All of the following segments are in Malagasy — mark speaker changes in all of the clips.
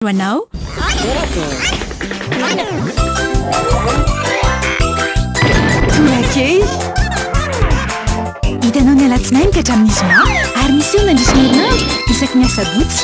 Speaker 1: ho anao. Torakely. Hitanao ny alatsinainy ka hatramin'ny zoma ary miseho mandritra ny herinandro isaky ny asabotsy.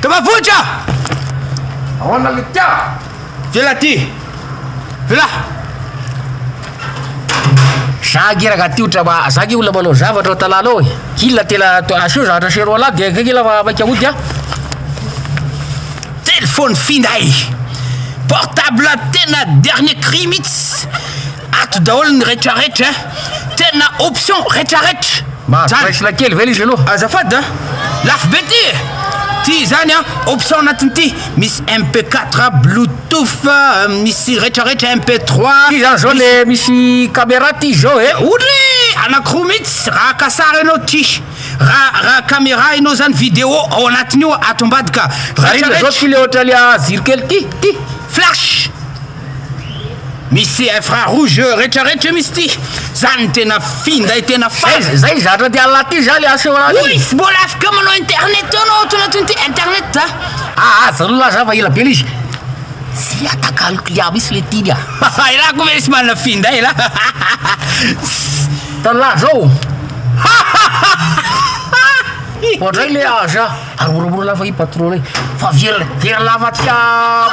Speaker 2: Tava vohitra! Ahoana le tia? Vela ty! Vela!
Speaker 3: Za gie raga ty otra ma, za gie olona manao zavatra ao tanàna ao e. Hila tela asio zavatra asio roa lahy dia akaiky ila fa maika hody a.
Speaker 2: Telefony finday! Portable tena dernier cri mihitsy! Ato daholo ny retraretra eh. Tena option retraretra zany. Mahazo bracelet kely
Speaker 3: ve le izy aloha? Azafady a!
Speaker 2: Lafo be ty e! Ty izany an, option anatiny ty, misy MP quatre, bluetooth, misy retraretra, MP trois, Ty zany zao le
Speaker 3: misy camera ty izao e! Oulé! Anakiroa
Speaker 2: mihitsy raha haka sary ianao ty. Raha raha camera ianao zany video ao anatiny io ato ambadika. Raha inona zao ty le
Speaker 3: ohatran'ny a jiro kely ty? Ty? Flash!
Speaker 2: Misy infra rouge retra retra misy ty zany tena finday tena fady zay zay zatra ty
Speaker 3: Allah ty za le asa eo any oy mbola afaka
Speaker 2: manao internet eo anao ato anatiny ty internet a ah aza lola za
Speaker 3: fa ela be le izy tsy atakaloko ya misy le tiny a haha elah ko ve misy manana
Speaker 2: finday elah
Speaker 3: tala zao hahahaha ohatray le aza Ary moramora lava i patron e fa viera viera lava aty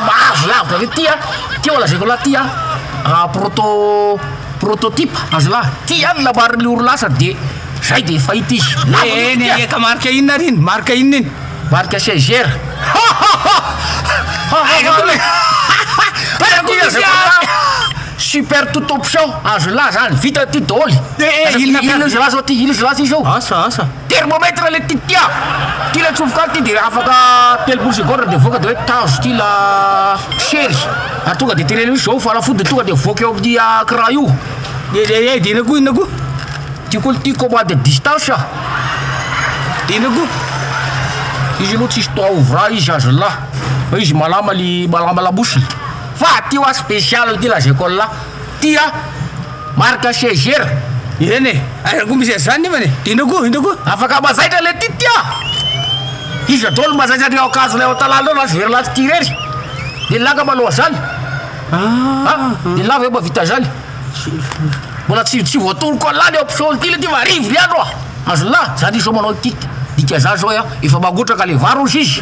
Speaker 3: mahazo lavitra ve ty a ty oa lazaiko anah ty a proto prototype aza lah ty ihany nambarin'ny orinasa de zay de fahita izy lava loatra ity a ka marika
Speaker 2: inona ary iny marika inona iny marika cgr
Speaker 3: super tout option azo lah zany vita ty daoly inona inona izy lah zao ty inona izy lah ty zao asa asa. Thermomètre
Speaker 2: le ty
Speaker 3: tia! Ty le atsofoka ato ty de afaka telopolo secondes de voaka de hoe tazo ty la chery ary tonga de teneniny hoe zao fanafody tonga de voaka eo amty ecran io de de de
Speaker 2: inona koa inona koa ty koa
Speaker 3: ty commande à distance a
Speaker 2: de inona koa izy
Speaker 3: aloha tsisy toa au vrai izy aza la fa izy malama le malama lamosiny fa ty wa special ty lazaiko anla tia Marc sièger ireny e!
Speaker 2: Aiza koa misy an'izany nefany e! Indro koa, indro koa! Afaka mazaitra le
Speaker 3: Titia! Iza daholo no mazaitra an'ireo akanjo ilay ao an-tanàna ireo raha tsy very lahy Titia irery? Dia laka maloha zany! Ah! Dia lahy ve mba vita zany? Mbola tsy tsy voatoroko an'lah ny option ty le ty fa arivo ny andro a! Azon'lah zany izao manao ity dika zany zao a! Efa mangotraka le vary hozy izy!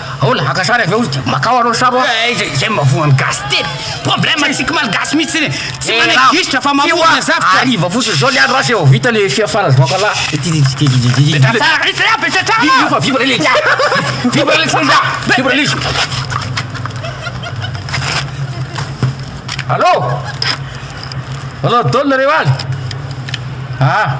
Speaker 3: Ahoana? Haka sary avy eo izy dia makao arô sary hoa. Ee izay izay mavoa ny
Speaker 2: gasy tena problème antsika malagasy mihitsy zany e! Tsy manaiky gisitra fa mamorona zavtra! Hariva fotsiny zao le andro lasa
Speaker 3: eo vao vita le fia farany vao kala Petraha tsara r'itsy ra! Petraha tsara! Io fa vibre le izy! Vibre le izy ra! Vibre le izy! Allô! Allô Don nareo any? Ah!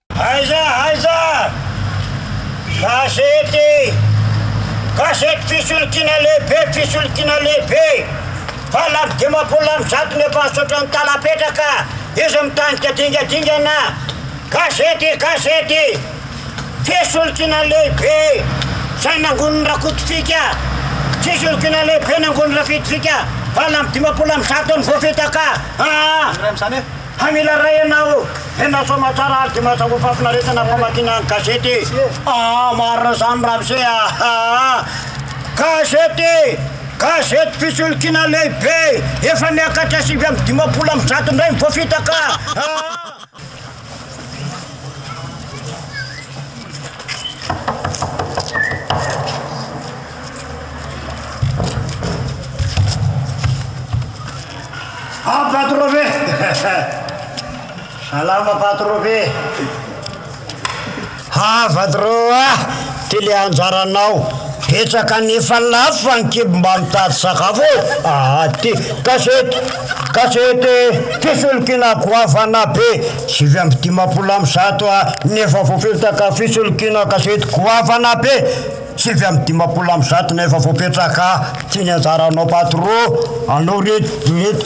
Speaker 4: Aiza aiza gazety gazety fisolokiana lehibe fisolokiana lehibe valo amby dimampolo amby zato ny efa nisaotra ny tana petraka izy mitanika dingadingana gazety gazety fisolokiana lehibe izay nangonin'i Rakotovika fisolokiana lehibe nangonin'i Rafitovika valo amby dimampolo amby zato no voafitaka aa Hay mila ray ianao ô! Tena soa aman-tsara ary dia mahatsapa fahafinaretana ny famakiana ny gazety e! Aa! Marina izany Ramose a! Aa! Gazety e! Gazety fisolokiana lehibe efa miakatra sivy amby dimampolo amby zato indray ny voafita ka! Aa! Ah Patrove! Salama Patrove! Ah Patro ah! Ty le anjaranao! Betsaka nefa lafo fa ny kibo mba mitady sakafo ô! Ah ty! Gazety! Gazety! Fisolokiana goavana be! Sivy amby dimampolo amby zato ah! Nefa voafilotra ka fisolokiana gazety goavana be! Sivy amby dimampolo amby zato no efa voapetraka tsy ny anjaranao patro anao reto reto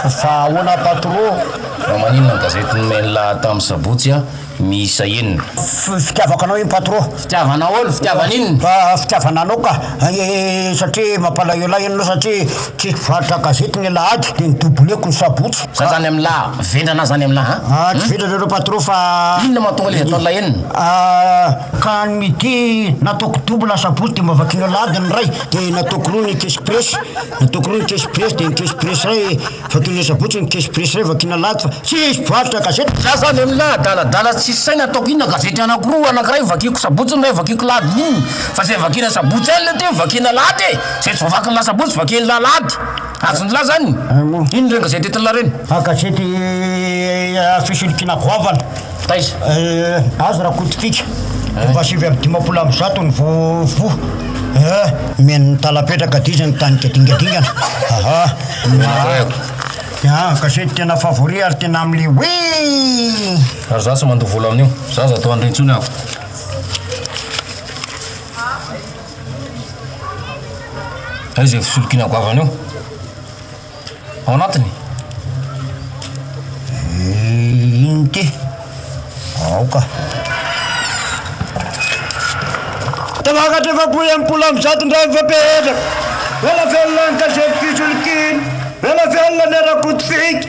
Speaker 4: fa ahoana patro. Fa maninona ny
Speaker 3: gazety nomeny laha tamin'ny sabotsy a miisa enina. Fitiavako anao
Speaker 4: iny patro. Fitiavana aolo? Fitiavana
Speaker 3: inona? Fitiavana anao ka!
Speaker 4: satria mampalahelo ahy ianao satria. Tsy mpivarotra gazety ny alahady dia ny doubler-ko ny sabotsy. Za zany amla
Speaker 3: vendrana zany amla an. Ah tsy vendrana reo patron
Speaker 4: fa. Inona mahatonga ilay ataonla
Speaker 3: enina? Ah ka
Speaker 4: ny midi nataoko double asabotsy dia mba vakianao alahady ny ray dia nataoko roa ny kesy presy nataoko roa ny kesy presy dia ny kesy presy ray vakianao asabotsy ny kesy presy ray vakiana alahady fa tsy mpivarotra gazety. Za zany amla
Speaker 3: adaladala tsisy saina ataoko inona gazety anakiroa anakiray vakiako sabotsy ny ray vakiako alahady inona fa zay vakiana sabotsy ihany le teo vakiana alahady e. Izay tsy voavaky ny la sabotsy vakian'ny la alahady. Azon'ny la zany? Inona ireny gazety entin'ny la ireny? Fa gazety
Speaker 4: fisolokina goavana. Taiza?
Speaker 3: Azy
Speaker 4: Rakotokiaka. Efa sivy amby dimampolo amby zato ny vovo. Mihaino ny talam-petraka d'izy ny tanika dingadingana. Aha. An, gazety tena favori ary tena amle ouii!
Speaker 3: Ary za tsy mandoa vola amin'io. Za aza atao an'ireny intsony aho. Ao izay fisolokiana goavana eo. Ao anatiny.
Speaker 4: Inty. Aoka. Tafakatra efapolo y ampolo amin'ny zato indray ny fampihetraka. Vela velona ny gazety fisolokiana. Vela velona ny ara-poto-pika.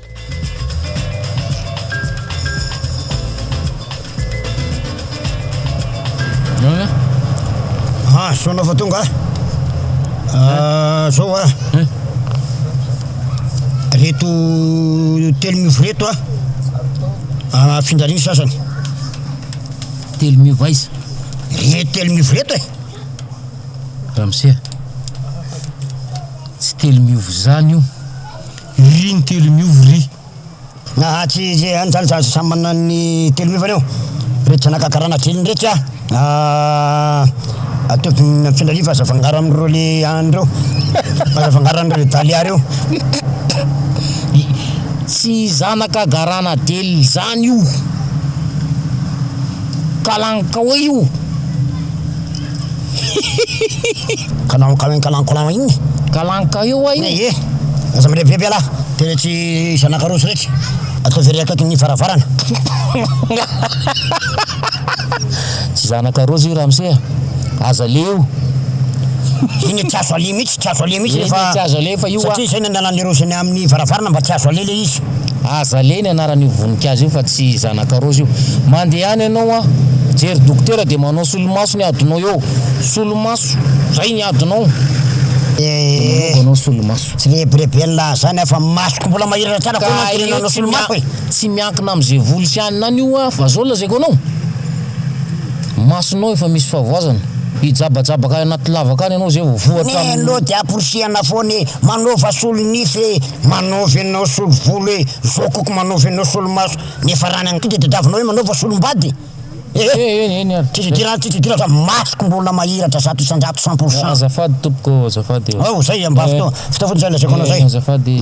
Speaker 4: Ah, soa anao fa tonga a. Ah, zao a. Reto telo miofo reto a. Ah, afindra ny sasany.
Speaker 3: Telo miofo aiza? Reto telo
Speaker 4: miofo reto e.
Speaker 3: Ramose. Tsy telo miofo zany io. Ry ny telo miova ry. Nahatry
Speaker 4: ze any zany za samy manana ny telo miovany eo reto zanaka karana telo reto za ah ataovy mifindrany io fa aza afangaro am reo le any reo aza afangaro am reo dalia reo
Speaker 3: tsy zanaka garana del zany io kalankaoy io. Kalanka iny kalanka lan iny.
Speaker 4: Kalanka io
Speaker 3: wa io. Ye
Speaker 4: aza mirevivevy ialahy. Tena tsy zanaka roso retsy. Ataovy ery akaikin ny varavarana.
Speaker 5: Tsy zanaka roso io ramose a. Aza le io.
Speaker 4: Iny tsy azo aleha mihitsy, tsy azo aleha mihitsy rehefa. Iny tsy azo
Speaker 5: aleha fa io wa. Satria izay nandalan'le roso
Speaker 4: eny amin'ny varavarana mba tsy azo aleha le izy. Azalea ny
Speaker 5: anaran'io voninkazo io fa tsy zanakarozy io. Mandehana ianao an! Jery dokotera dia manao solomaso ny adinao eo. Solomaso! Zay ny adinao! Dia manaova anao solomaso. Tsy rebireben'la
Speaker 4: zany aho fa masoko mbola mahiratra tsara foana ny tenenao anao solomaso e! Tsy miankina amin'izay
Speaker 5: voly sy anona any io an! Fa zao lazaiko anao! Masonao efa misy fahavoazana. Hijabajabaka any anaty lavaka any ianao zay vao voa hatramin'ny. Neny ô dia aporisihana
Speaker 4: foana e! Manaova solonify e! Manaovy anao solo volo e! Zao koko manaovy anao solo maso nefa rany any tonga de tadiavinao hoe manaova solo mbady e! Try ty rany try ty rany fa masoko mbola mahiratra zato isanjato cent pour cent. Azafady tompoko
Speaker 5: ô, azafady ô. Ao zay mba fotoa,
Speaker 4: fotoa fotsiny zay no asiako anao zay. Azafady e.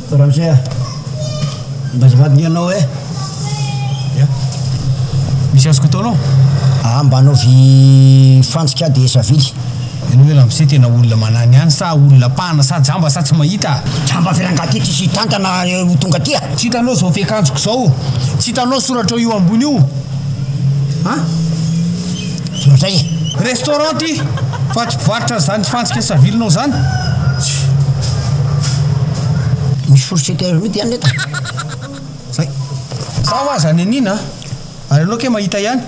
Speaker 4: Ranger a! Mba azafady ny anao eh! Ya!
Speaker 3: Misy azoko atao anao? Aa mba anaovy
Speaker 4: fantsika aho dia savily. Ianao ve ramose
Speaker 3: tena olona manany ihany sa olona pana sa jamba sa tsy mahita a! Jamba avy any angaha ty tsisy
Speaker 4: hitantana ho tonga aty a! Tsy hitanao izao fiakanjoko
Speaker 3: izao? Tsy hitanao soratra io ambony io a!
Speaker 4: indray. Restaurant
Speaker 3: ty fa tsy mpivarotra an'izany fantsika savilinao zany.
Speaker 4: Misy fourchette air mity any nefa. Zay.
Speaker 3: Zaho aza any an'ina a. Ary ianao kay mahita ihany.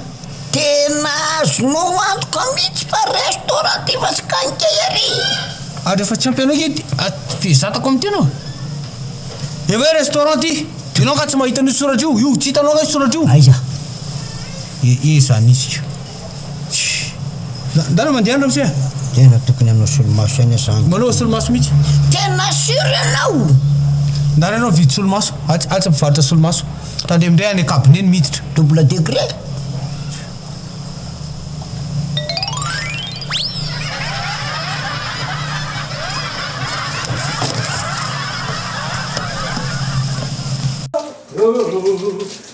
Speaker 3: Tena
Speaker 4: azonao antoka mihitsy fa restaurant ty fa tsy kankay ary. Ary rehefa tsy
Speaker 3: ampy anao kay ty a dia zatako amin'ny tena ô. Dia hoe restaurant ty. Ianao angaha tsy mahita an'io soratra io. Io tsy hitanao angaha io soratra io. Aiza.
Speaker 4: Ee
Speaker 3: izany izy ka. Tchii. Ndana mandeha any ramose a! Tena tokony hanao
Speaker 4: solomaso ihany aho zany. Manao solomaso mihitsy.
Speaker 3: Tena sur
Speaker 4: ianao? Ndana ianao
Speaker 3: mividy solomaso, atsy atsy mpivarotra solomaso. Tandremo indray any cabinet ny miditra. Double degré.
Speaker 4: Rôrôrôrôrô.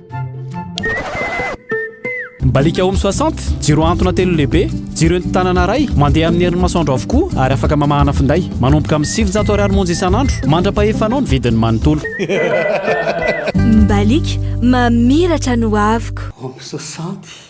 Speaker 6: Mibaliaka Home 60, jiro antona telo lehibe, jiro entin-tanana iray, mandeha amin'ny herin'ny masoandro avokoa ary afaka mamahana finday. Manomboka amin'ny sivinjato ariary monja isan'andro. Mandra-pahefanao ny vidiny manontolo.
Speaker 7: Mibaliaka, mamiratra ny hoaviko. Home 60.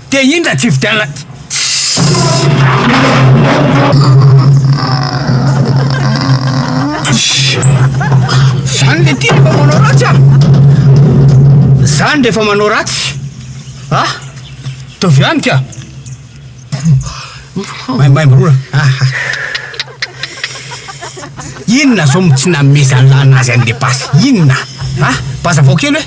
Speaker 5: Te
Speaker 3: indra tsy hividianana Zany le ty refa manao ratsy a Zany refa manao ratsy a Ataovy any ka Maimaimbo roa aha Inona zao no tsy nanomezan'ny lana azy an'le basy inona a Bazavao kely hoe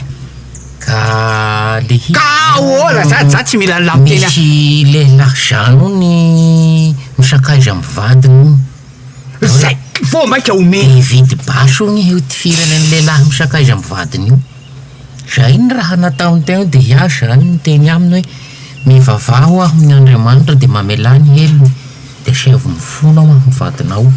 Speaker 3: Ka
Speaker 5: le hira Ka ahoana za
Speaker 3: za tsy mila lany teny a. Misy lehilahy
Speaker 5: zany ony misakaiza am vadiny ony. Zay
Speaker 3: vao maika omeny. Hividy basy ony
Speaker 5: io tifirany any lehilahy misakaiza am vadiny io. Zay ny raha nataony teo de ià zany niteny aminy hoe mivavaha ho'aho amin Andriamanitra de mamelà ny helony. Esevo ny fonao amin'ny vadinao.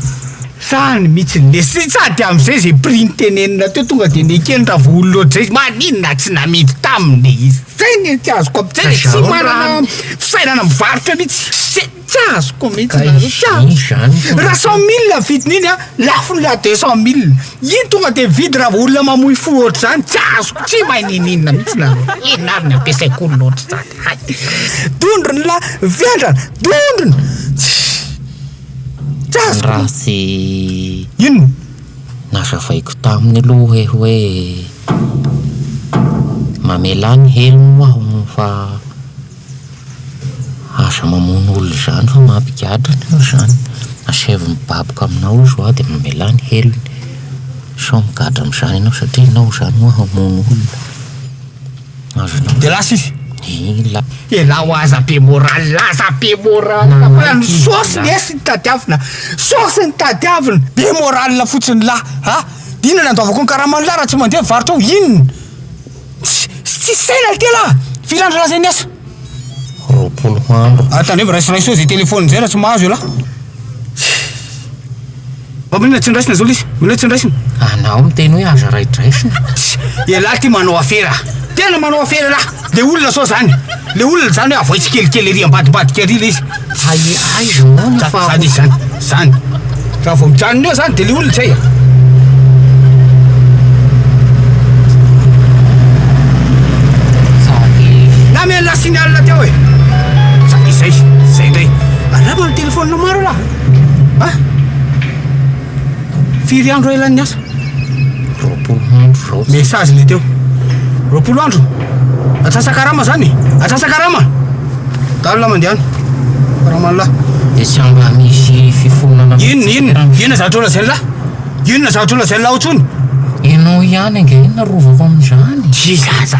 Speaker 5: Zany
Speaker 3: mitsiny le sy sady amizay ze prix nitenenina teo tonga de nekeny raha vao olona ohatr'izay izy maninona tsy namidy taminy e izy zay ny tsy azoko amizay le tsy manana fisainana mivarotra mitsy zay tsy azoko mitsy nareo tsy azoko raha cent mille ny vidin'iny an lafo ny raha deux cent mille iny tonga de mividy raha vao olona mamoy fo ohatr'izany tsy azoko tsy mahay nininona mitsy nareo inona ary ny ampiasaiko olona ohatr'izany. Hay! Dondrona la vendrana! Dondrona! Tsy
Speaker 5: azoko! Raha tsy
Speaker 3: Inona? nazavaiko
Speaker 5: taminy aloha hoe hoe mamelà ny helony moa aho fa aza mamono olona izany fa mampigadra anao izany. Asaivo mibaboka aminao izy ho'a dia mamelà ny helony. Sao migadra amin'izany ianao satria ianao izany moa hamono olona. De lasa izy. Ela. Ela ho aza
Speaker 3: be moral aza be moral fa ny source lesy no tadiavina source no tadiavina be moral fotsiny lah a inona no andoavako ny karamany lah raha tsy mandeha ny varotra ao inona tsy tsisy saina le tena firy andro lasa iny asa roapolo
Speaker 5: andro ah tandremo raisiraiso zay
Speaker 3: telephone zay raha tsy mahazo elah. Momba inona tsy niraisina zao lesy? Inona tsy niraisina? Anao miteny hoe
Speaker 5: aza raidraisina? Tsia, ialahy ity
Speaker 3: manao afera, tena manao afera ialahy, le olona sao zany, le olona zany hoe avoay tsikelikely ery ambadimbadika ery le izy, Hay aiza moa
Speaker 5: ny faharoa? Zany izy zany, zany,
Speaker 3: raha vao mijanona eo zany de le olona zay e. Namela signal teo e! Zany izy zay, zay indray, andramo ny telephone maro ialahy. Ah! Firy andro ela ny asa? Roapolo
Speaker 5: andro raotsy. Message le teo.
Speaker 3: Roapolo andro. Atsasakarama zany. Atsasakarama. Dalina mandehana. Ramanla. Dia tsy amba
Speaker 5: misy fifonana. Inona inona? Inona zavatra
Speaker 3: ola zella? Inona zavatra ola zella ao tsony? Ianao
Speaker 5: ihany ange na rovako amin'izany. Tsy zaza.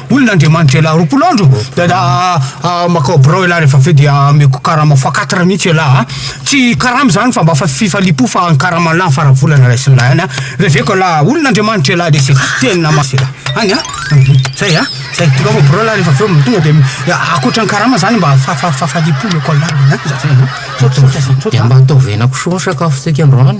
Speaker 3: Olona Andriamanitra ialahy roapolo andro dia da makao birao ialahy rehefa avy eo dia ameko karama fois quatre mihitsy ialahy a! tsy karama izany fa mba fa fifaliam-po fa ny karaman'lah ny faran'ny volana raisin'lah ihany a! reveko ialahy olona Andriamanitra ialahy lesy e! teny na maso ialahy any a! zay a! zay tonga ao birao ialahy rehefa avy eo tonga dia akoatra ny karama izany mba fa fahafaliam-po omeko an'lah a! zay no misaotra
Speaker 5: misaotra. Dia mba ataovy henankisoa ny sakafon-tsika androany.